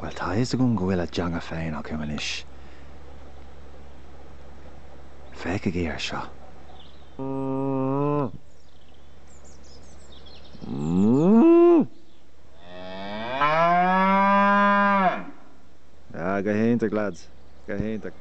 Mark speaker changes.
Speaker 1: Bhuel, tá a fhios agam go bhfuil a dteanga féin acu anois. Féachaigí ar seo. Ah, go hiontach, lads. Go hiontach.